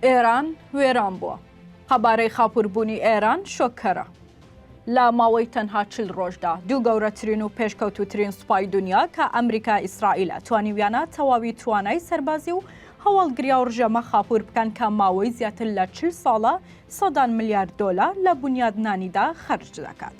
ئێران وێران بووە. قەبارەی خاپووربوونی ئێران شۆککەرە. لە ماوەی تەنها چل ڕۆژدا دوو گەورەترین و پێشکەوتوترین سوپای دنیا کە ئەمریکا ئیسرائیلە توانیویانە تەواوی توانای سەربازی و هەواڵگریا و ڕژێمە خاپوور بکەن کە ماوەی زیاتر لە چل ساڵە سەدان ملیارد دۆلا لە بنیادنانیدا خەرج دەکات.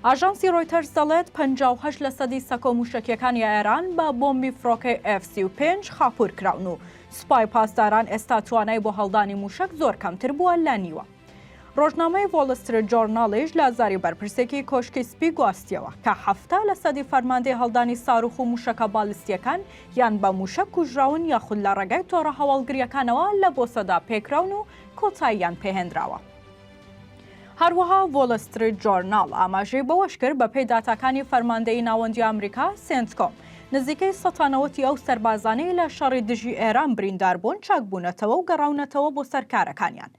ئاژانسی ڕۆیتەرز دەڵێت 58 لە سەدی سەکۆ موشەکیەکانی ئێران بە بۆمبی فڕۆکەی F35 خاپوور کراون و سپای پاسداران ئێستا توانای بۆ هەڵدانی مووشەک زۆر کەمتر بووە لە نیوە. ڕۆژنامەی وۆڵ ستریت جۆرناڵیش لە زاری بەرپرسێکی کۆشکی سپی گواستییەوە کە حەفتا لە سەدی فەرماندەی هەڵدانی ساروخ و مووشەکە بالیستییەکان یان بە مووشەک کوژراون یاخود لە ڕێگای تۆڕە هەواڵگرییەکانەوە لە بۆسەدا پێکراون و کۆتاییان پێهێنراوە. هەروەها وۆڵ ستریت جۆرناڵ ئاماژەی بەوەشکرد بەپێی داتاکانی فەرماندەیی ناوەندی ئەمریکا سێنتکۆم نزیکەی سەتانەوەتی ئەو سەربازانەی لە شەڕی دژی ئێران بریندار بوون چاک بوونەتەوە و گەڕاونەتەوە بۆ سەر کارەکانیان.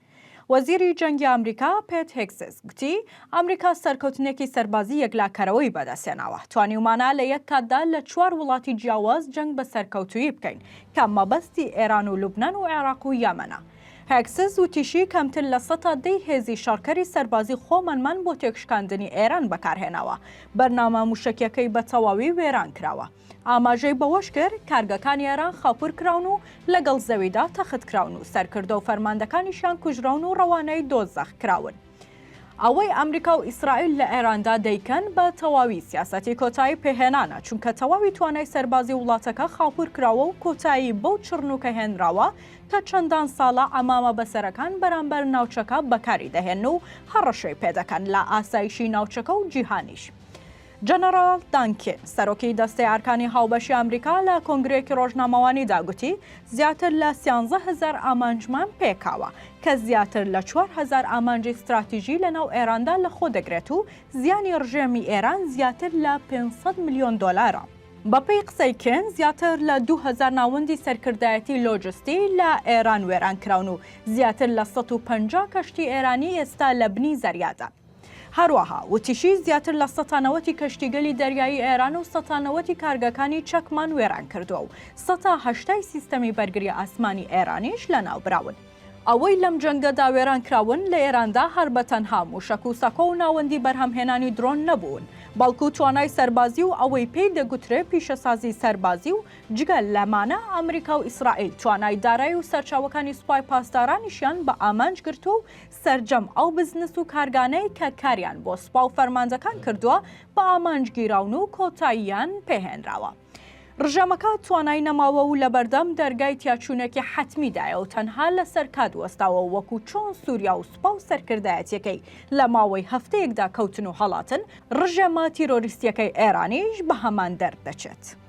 وەزیری جەنگی ئەمریکا پێت هێگسز گوتی ئەمریکا سەرکەوتنێکی سەربازی یەکلاکەرەوەی بەدەستهێناوە، توانیومانە لە یەک کاتدا لە چوار وڵاتی جیاواز جەنگ بە سەرکەوتوویی بکەین کە مەبەستی ئێران و لوبنان و عێراق و یەمەنە. هێکسز وتیشی، کەمتر لە سەتا دەی هێزی شەڕکەری سەربازی خۆمانمان بۆ تێکشکاندنی ئێران بەکارهێناوە، بەرنامە موشەکیەکەی بە تەواوی وێران کراوە. ئاماژەی بەوەش کرد، کارگەکانی ئێران خاپور کراون و لەگەڵ زەویدا تەختکراون و سەرکردە و فەرماندەکانیشیان کوژراون و ڕەوانەی دۆزەخ کراون. ئەوەی ئەمریکا و ئیسرائیل لە ئێراندا دەیکەن بە تەواوی سیاسەتی کۆتایی پێهێنانە، چونکە تەواوی توانای سەربازی وڵاتەکە خاپوور کراوە و کۆتایی بەو چڕنووکە هێنراوە کە چەندان ساڵە عەمامە بەسەرەکان بەرامبەر ناوچەکە بەکاری دەهێن و هەڕەشەی پێدەکەن لە ئاسایشی ناوچەکە و جیهانیش. جەنەڕاڵ دان کین، سەرۆکی دەستەی ئەرکانی هاوبەشی ئەمریکا لە کۆنگرەیەکی ڕۆژنامەوانیدا گوتی، زیاتر لە سیانزە هەزار ئامانجمان پێکاوە، کە زیاتر لە چوار هەزار ئامانجی ستراتیژی لەناو ئێراندا لەخۆدەگرێت و زیانی ڕژێمی ئێران زیاتر لە پێنج سەد ملیۆن دۆلارە. بەپێی قسەی کین، زیاتر لە دوو هەزار ناوەندی سەرکردایەتی لۆجستی لە ئێران وێرانکراون و زیاتر لە سەد و پەنجا کەشتی ئێرانی ئێستا لە بنی زەریادان. هەروەها وتیشی، زیاتر لە سەتا نەوەتی کەشتیگەلی دەریایی ئێران و سەتا نەوەتی کارگەکانی چەکمان وێران کردووە و سەتا هەشتای سیستەمی بەرگری ئاسمانی ئێرانیش لەناوبراون. ئەوەی لەم جەنگەدا وێران کراون لە ئێراندا هەر بە تەنها مووشەک و سەکۆ و ناوەندی بەرهەمهێنانی درۆن نەبوون، بەڵکو توانای سەربازی و ئەوەی پێی دەگوترێ پیشەسازی سەربازی و جگە لەمانە ئەمریکا و ئیسرائیل توانای دارای و سەرچاوەکانی سوپای پاسدارانیشیان بە ئامانج گرتووە و سەرجەم ئەو بزنس و کارگانەی کە کاریان بۆ سوپا و فەرمانجەکان کردووە بە ئامانج گیراون و کۆتاییان پێ هێنراوە. ڕژێمەکە توانای نەماوە و لەبەردەم دەرگای تیاچوونێکی حەتمیدایە و تەنها لەسەر کات وەستاوە وەکو چۆن سوریا و سوپا و سەرکردایەتیەکەی لە ماوەی هەفتەیەکدا کەوتن و هەڵاتن، ڕژێمە تیرۆریستیەکەی ئێرانیش بە هەمان دەرد دەچێت.